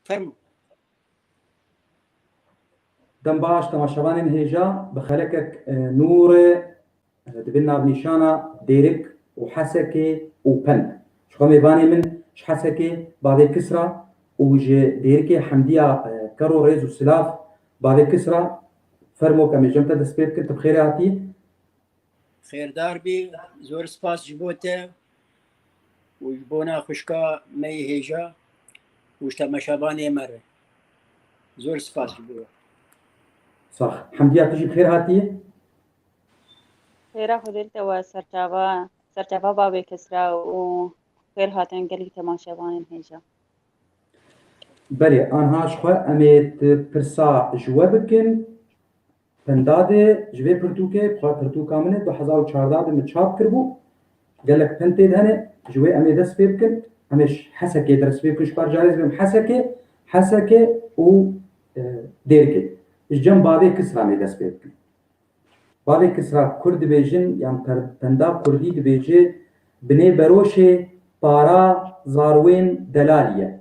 Fermo. Dem baş temaşevanên hêja bi xelekek nûrê dibin navnîşana Dêrik û Hesekê û Pend. Ji xwe mêvanê min ji Hesekê bavê Kisra û ji Dêrikê Hemdîya ker û rêz û silav. Bavê Kisra, Fermo kemê cem te dest pê bikin, tu bi xêrê hatî. Xêrdar bî, zor spas ji bo te û ji bona xwişka me yê hêja û ji temaşevanê me re. Zor spas ji bo we. Sax. Hemdiya tu jî bi xêr hatî. Xêra Xwedê li te we serçava serçava bavê Kisra û xêr hatin gelî temaşevanên hêja. Belê anha jixwe em ê tu pirsa ji we bikin. Pintadê ji vê pirtûkê bi xwe pirtûka min e du hezar û çardeh de min çap kiribû. Gelek pint tê de hene ji wê em ê dest pê bikin. Em ê ji Hesekê ders pê bikin ji bar carê ez bêm Hesekê, Hesekê û Dêrikê. Ji cem bavê Kisra em ê dest pê bikin. Bavê Kisra Kurd dibêjin yan pinda Kurdî dibêje binê beroşê para zarwên delalî ye.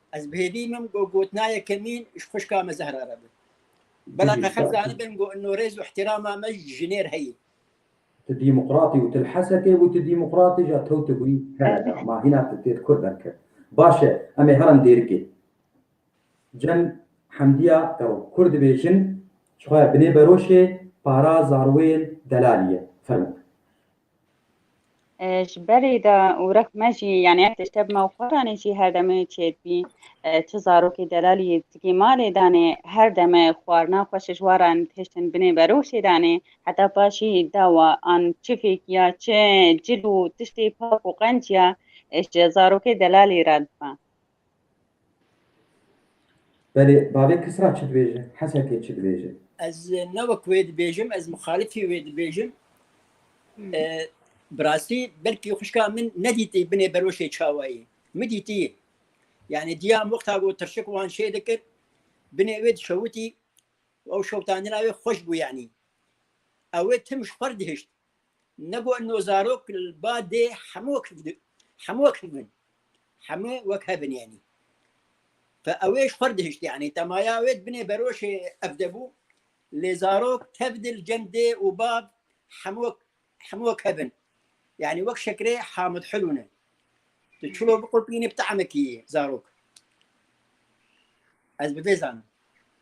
Ez bi hêvî min got gotina yekemîn ji xwişka me Zehra re bi. Bela me xel zanibin got no rêz û îhtîrama me ji jinê re heye. Tu dîmokratî û tu li Hesekê bû, tu dîmokratî ja kewtibûyî hereda. Ma hîna tu têt kur derkir. Baş e, em ê herin dêrikê. Cem Hemdiya Gero, Kur dibêjin, ji xwe binê beroşê, para zarwên delalî ye. Fermo. ji berê de û rek me jî yanî ev tişte bi me û xwe danê jî her demê çêdibî çi zarokê delalî zikê malê danê her deme xwarina xwe ji waran tiştin binê beroşê danê heta paşî dawa an çifêk ya çi cil û tiştê pak û qenc ya ji zarokê delalî re dibe. Belê, bavê Kisra çi dibêje, Hesekê çi dibêje? Ez ne wek wê dibêjim, ez muxalifî wê dibêjim. Bi rastî belkî xwişka min nedîtî binê beroşê çawayî. Min dîtî. Yani diyam wexta ku tirşik wan şê dikir, binê wê dişewitî, ew şewitandina wê xweş bû yanî. Ew ê tim ji xwe re dihişt. Nebo no zarok li ba dê hemû wek hevdin, hemû wek hevin, hemû wek hevin yanî. Te ew ê ji xwe re dihişt yanî te maya wê dibinê beroşê ev de bû lê zarok tev dil cem dê û bab hemû wek hemû wek hevin. Yanî wek şekerê hamid hilû ne. Tu çilo biqurpînî bi teamekî zarok. Ez bi vê zanim.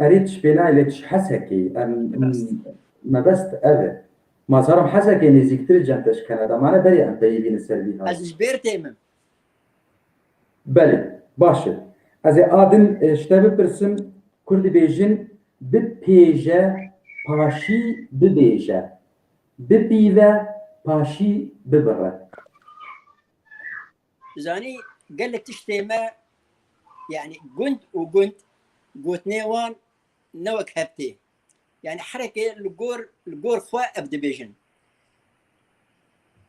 Erê tu ji pê nayê lê tu ji Hesekê yî. Em mebest ev e. Ma zarim Hesekê nêzîktir e cem te ji Kanada mane berê em peyivînin ser vî halê. Ez ji Bêrtê me. Belê. Baş e. Ez ê a din ji te bipirsim kur dibêjin bipêje paşî bibêje, bipîve paşî bibire. Zanî gelek tiştê me yani gund û gund gotinê wan ne wek heptê. Yani herekê li gor li gor xwe ev dibêjin.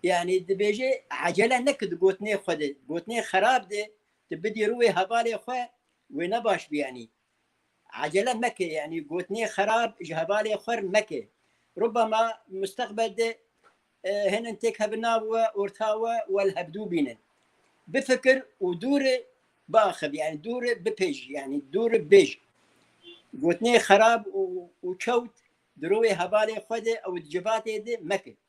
Yani dibêjê ecele neke di gotinê xwe de, gotinê xerab de tu bidî rû wê hevalê xwe wê ne baş bî yanî. Acele meke yani gotinê xerab ji hevalê xwer meke. Rubama mustaqbel de hênin têk hebin nav we, orta we we li hevdû bînin. Bifikir û dûr biaxivî yani dûr bipêj yani dûr bêj. Gotinê xerab û çewt di rûê hevalê xwe de ew di civatê de meke.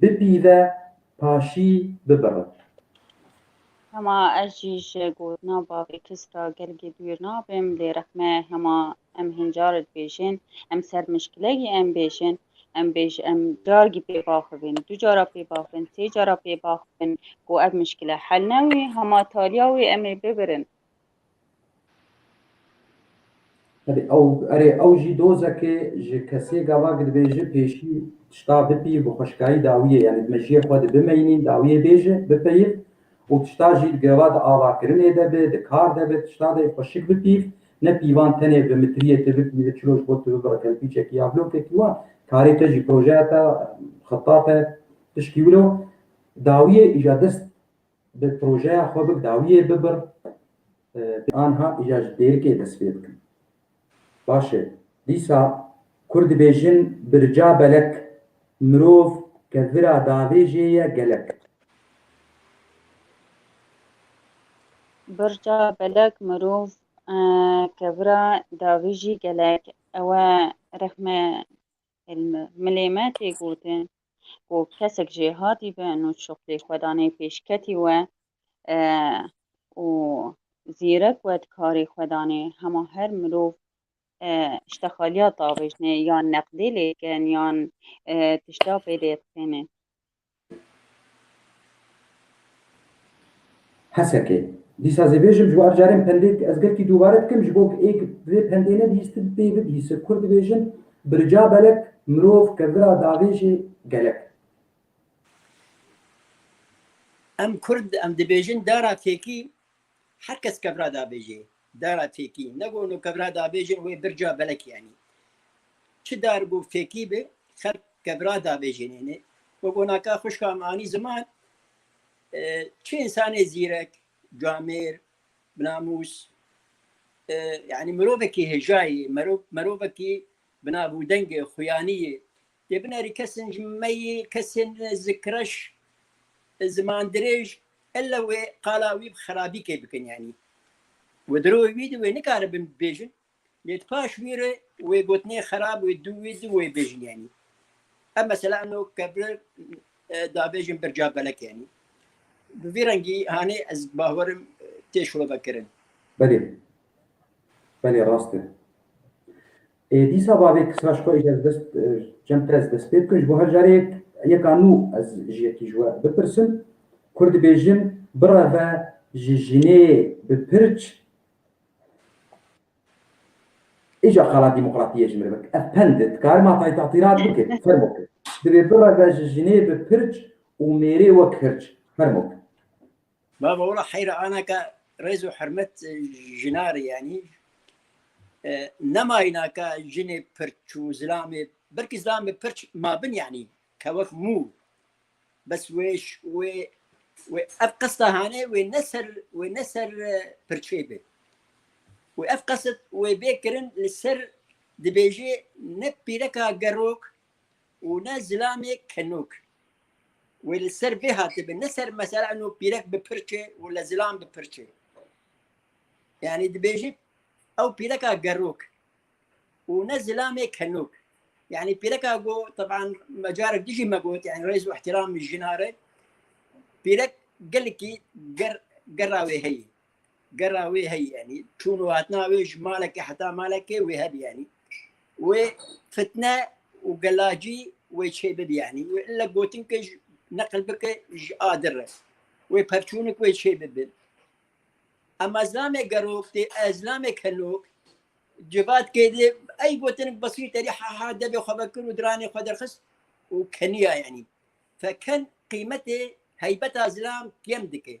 Bipîve paşî bibirin. Hema ez jî ji gotina bavê Kisra gelgî dûr nabim lê rexme hema em hên car dibêjin em ser mişkilegî em bêjin em bêj em cargî pê baxivin du cara pê baxivin sê cara pê baxivin ku ev mişkile hel newî hema taliya wê em ê bibirin Erê ew jî dozekê ji kesê gava ku dibêje pêşî tişta bipî bi xweşikayî dawiyê yanî di mejiyê xwe de bimeynîn dawiyê bêje bipeyîv û tişta jî di gava di avakirinê de be di kar de be tişta de xweşik bipîv ne pîvan tenê bi mitriyê tu bipîve çilo ji bo tu bibire kelpîçekî ya blokekî wan karê te jî projeya te xeta te tişkî wilo dawiyê îja dest Bi projeya xwe bi dawiyê bibir pê anha îja ji dêrikê dest pê bikin. Baş e, dîsa Kurd dibêjin birca belek, mirov ke vira davê jê ye gelek. Birca belek, mirov ke vira davê jî gelek. Ew e rexme Li milê me tê gotin ku kesek jêhatî be nûçûq tê xwedanê pêşketî we û zîrek we dikarê xwedanê hema her mirov tişta xaliya davêjne yan neqdê lê dikin yan tişta pê dê dixêne. Hesekê. Dîsa zê bêjim ji bo ev carên pendê ez gelkî dûbare dikim ji bo ê vê pendê nebîstin pê bibîse kur dibêjin bi rica belek mirov ke vira davêjê gelek. Em kurd em dibêjin dara têkî Her kes kevra dabêjê, dara fêkî, ne gonû kevra dabêjin wê birca belek yanî. Çi dar bû fêkî bi, xelk kevra dabêjinêne. Bi gonaka xuşka min anî ziman, e, çi însanê zîrek, camêr, binamûs, e, yanî mirovekî hêjayê, merov, mirovekî binavûdengê, xuyaniyê, Dê binêrî kesên ji meyî, kesên zi kireş, ziman dirêj, illa wê qala wî bi xerabî kê bikin yanî. Wê di rûyê wî de wê nikaribin bibêjin, lê di paş wî re wê gotinê xerab wê dû wî de wê bêjin yanî. Ev mesela ino ke bi dabêjin birca belek yanî. Bi vî rengî hanê ez bawerim tê şovekirin. Belê. Belê rast e. Ê dîsa bavê kisra ji xwe êşe ez dest çend pir ez dest pê bikim ji bo her carê yeka nû ez ji yekî ji we bipirsim Kur dibêjin bireve ji jinê bi pirç Îca qala demokratiyê ji min bik ev pend e dikare ma taytatirat bike fermo ke Dibê bireve ji jinê bi pirç û mêrê wek hirç fermo ke. Baba wala heyra ana ka rêz û hirmet jinarê yanî nemayîna ka jinê pirç û zilamê belkî zilamê pirç mabin yanî ka wek mû bes wê wê wê ev qesta hane wê ne ser wê ne ser pirçê bê. Wê ev qesit wê bê kirin li ser dibêjê ne pîreka gerok û ne zilamê kenok. Wê li ser vê hatibe ne ser mesela eno pîrek bi pirçe û le zilam bi pirçe. Yani dibêjî ew pîreka gerok û ne zilamê kenok. Yani pîreka go teban mecarek dijî me got yani rêz û ihtiram jinare pîrek gelekî ger gera wê heyî. Gera wê heyî yanî çûn û hatina wê ji malekê heta malekê wê hebî yanî wê fitne û gelacî wê çê bibî yanî wê ille gotin ke ji neqil bike ji adir re wê pevçûnik wê çê bibi. Ema zilamê gerok tê ez zilamê kelok civat kêdê ey gotinik besîr terî ha ha debê xwe vekir û diranê xwe derxist û keniya yanî. Feken qîmetê heybeta zilam kêm dike.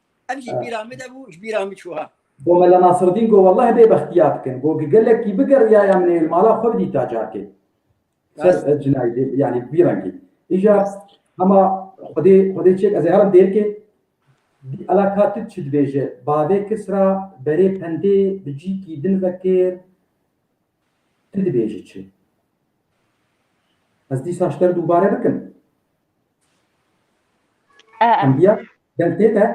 Ev ji bîra min de bû, ji bîra min çû ha. Bo Mela Nasreddîn got welleh bê bextiya dikin. Got ku gelekî bigeriyaya min ê li mala xwe bidîta carkê. Ser cinayê dê yanî bi vî rengî. Îja hema xwedê xwedê çêk ez ê herim dêrkê. Ela ka tu çi dibêje? Bavê kis ra berê pendê bi cîkî din vekir. Tu dibêjî çi? Ez dîsa ji te re dubare bikim. E, e. Endiya deng tê te?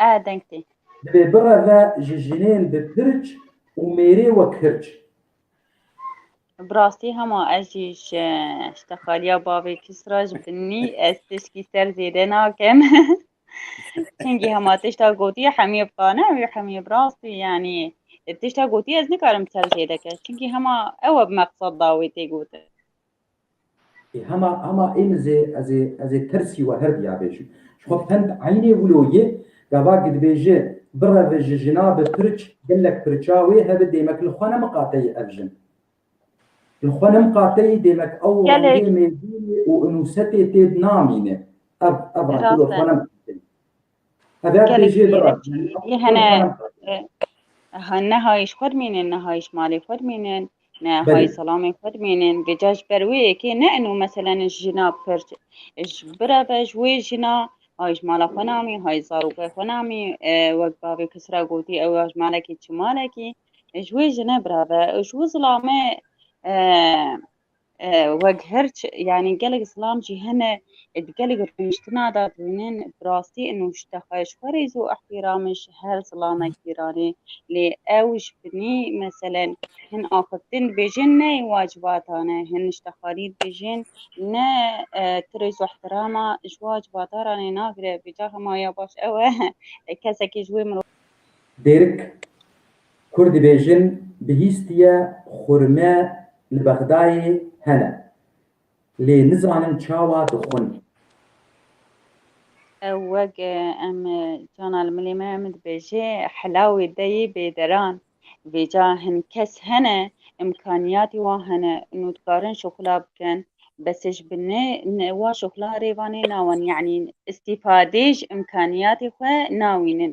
E, deng tê. Divê bireve ji jinên bi pirç û mêrê wek hirç. Bi rastî hema ez jî ji ji texaliya bavê Kisra ji binî ez tişkî ser zêde nakim. Hingî hema tişta gotiye hemî bi qane wî hemî bi rastî yanî tişta gotiye ez nikarim ser zêde ke. Çimkî hema ew e bi meqsad da wê tê gotin. Ê hema hema ê min zê ez ê ez ê tirsî we her diya bêjim. Ji xwe fend eynê wilo yê, gava ki dibêje birevi ji jina bi pirç gelek pirça wê hebi dêmek li xwe ne miqateyî ev jin. Li xwe ne miqateyî dêmek ew rengê mêzînê û unûsetê têd namîne. Ev ev reng li xwe ne miqateyî. hene nehayîş xwe dimînin, nehayîş malê xwe dimînin, nehayî selamê xwe dimînin. Vêca ji ber wê yekê ne ino meselen jina pir ji bireve ji wê jina hayîş mala xwe namî, hayî zarokê xwe namî wek bavê kisra gotî ew ya ji malekî çi malekî ji wê jine bireve ji wê zilame Wek hirç yanî gelek zilam jî hene di gelek rûniştina de dibînin bi rastî û ji te xwe ji xwe rêz û îhtîramê ji her zilamek gîranê lê ew ji binî meselen hin axiftin dibêjin neyê wacibatan e hin niştexanî dibêjin ne tu rêz û îhtîrama ji wacibata re nê nagire vêca hema ya baş ew e kesekî ji wê mirov Dêrik Kurd dibêjin bihîstiye xurme li Bexdayê hene lê nizanin çawa dixwin. Ew wek em cana li milê me em dibêjê helawê deyê bêderan. Vêca hin kes hene imkaniyatê wan hene û dikarin şoxula bikin besê ji bin wan şoxulan rê vanê nawan yanî îstîfadê ji imkaniyatê xwe nawînin.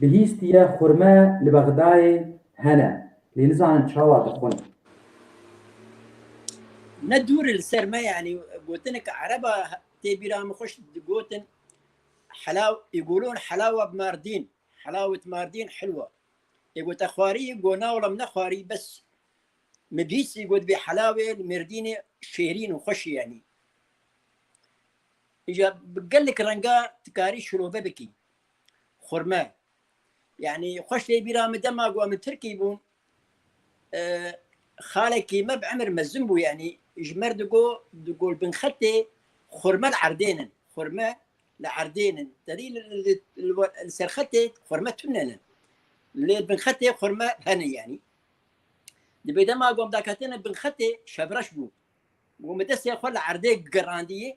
Bihîstiye xurme li Bexdayê hene lê nizanin çawa dixwin. Ne dûr li ser me yanî gotineke ereb a tê bîra min xweş digotin Helaw yegolun helawa bi Mardîn, helawet Mardîn hilwa. Ê gote xwarî go na wala min nexwarî bes min bihîstî got vê helawê li Mêrdînê şêrîn û xweş e yanî. Îja bi gelek renga dikarî şilove bikî. Xurme. Yani xweş lê bîra min dema ku em Tirkî bûn e, xalekî me bi emir mezin bû yani ji mer digo di gol bin xetê xurme li erdênin. Xurme li erdênin. Tedî li ser xetê xurme tunenin. Lê bin xetê xurme henin yani. Di bê dema gom daketinin bin xetê şevreş bû. Gom destê xwe li erdê girandiyê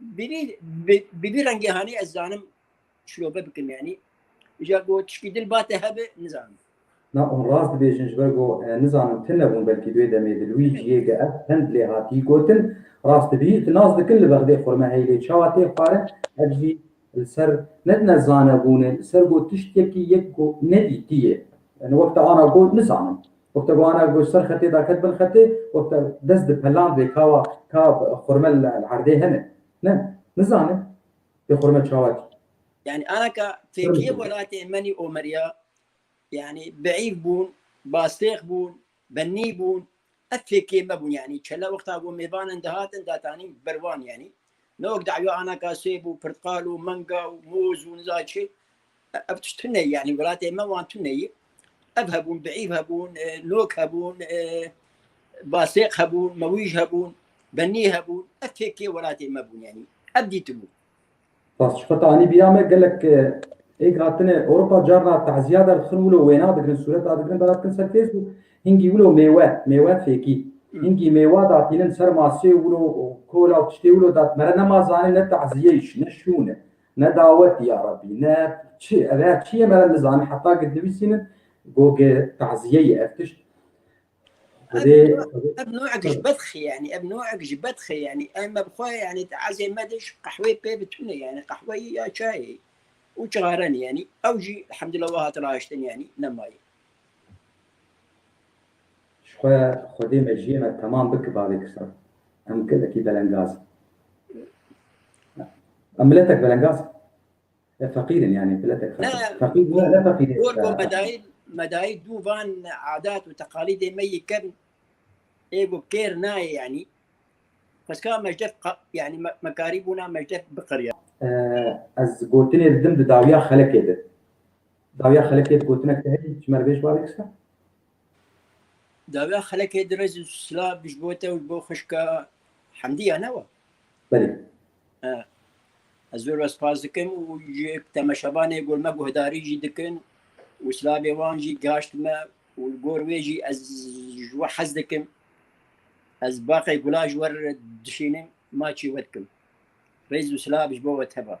Biri biri rengê hanî ez zanim şirobe bikin yanî ja go çikî dil bate hebe nizanim. Na on rast dibêjin ji ber go nizanim tu nebûn belkî duê demê di li wî ciyê de ev hind lê hatî gotin. Rast bî tu nas dikin li bexdê xurme hey lê çawa tê xware ev jî li ser ne ne zanebûnê li ser go tiştekî yek go nedîtiyê. Wek te ana go nizanim. Wexta ku Ana Goş ser xetê da ket bin xetê, wexta dest di peland vê kawa ka xurme li erdê hene. Ne, nizane vê xurme çawa tî. Yanî ana ka têkiliyê welatê Menî Omeriya yanî bihîv bûn, bastêx bûn, benî bûn. Ev fêkê me bûn yanî çele wexta ku mêvanin dihatin datanîn ber wan yanî. Ne wek dawî anaka sêb û pirtqal û menga û moz û niza çi. Ev tişt tune yanî welatê me wan tune yî. Ev hebûn, biîv hebûn, e, nok hebûn, e, basêq hebûn, mewîj hebûn, benî hebûn. Ev têkê welatê me bûn yanî. Ev dîtibû. Bas ji xwe anî bîra me gelek e, êk hatine Ewropa carna tezîya derdixin wilo wêna digirin, sûreta digirin dana dikin ser Facebook. Hingî wilo mêwe, mêwe fêkî. Hingî mêwa da tînin ser masê wilo û kola û tiştê wilo da mere nema zanê ne taziyeyîş, ne şûn e, ne dawetî ya Rebî, ne çi, ev her çi yê mere nizanî heta gid nivîsînin goge taziye yê ev tişt. Divê Ev nûek ji bedxê yanî, ev nûek ji bedxê yanî. Em ev xwe yanî taziyê me de ji qehwê pê bi tune yanî qehweyî ya çayê û çixarenî yanî ew jî elhamdulillah wiha tira hiştin yanî nema yê. Ji xwe Xwedê mejiyê me temam bike bavê kisan. Em gelekî belengaz in. Em miletek belengaz in. Ev feqîr in yanî miletek xetin. Ne. Feqîr ne ne feqîrê. Gor go medayî medayî dû van adat û teqalîdê me yê kevn ê go kêr nayê yanî. Xweska mejdef qa yanî me me karî bûna mejdef biqiriya. Ez gotinê didim di dawiya xelekê de. Dawiya xelekê bi gotinek te heye ji me re bê ji wan re kisa? Dawiya xelekê di rêz û silav bi ji bo te û ji bo xişka Hemdî ya ne wa? Belê. Ez zor ve spas dikim û ji temeşevanê gor me guhdarî jî dikin û silavê wan jî gihaşt me û li gor wê jî ez ji we hez dikim. Ez baqê gula ji we re dişînim, maçî we dikim. Rêz û silav ji bo we teva.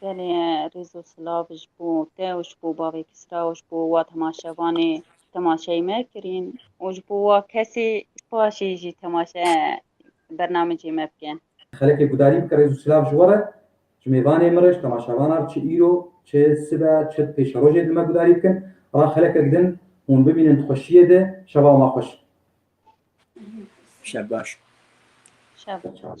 Belê rêzo silav ji bo te û ji bo bavê Kisra û ji bo wa temaşevanê temaşeyê me kirîn û ji bo wa kesê paşê jî temaşe bernamecê me bikin. Xelekê gudarî bike rêz û silav ji we re ji mêvanê min re ji temaşevanan re çi îro çi sibe çi pêşerojê li me gudarî bikin ra xelekek din hûn bibînin di xweşiyê de şeva ma xweş be. Şev baş. Şev baş.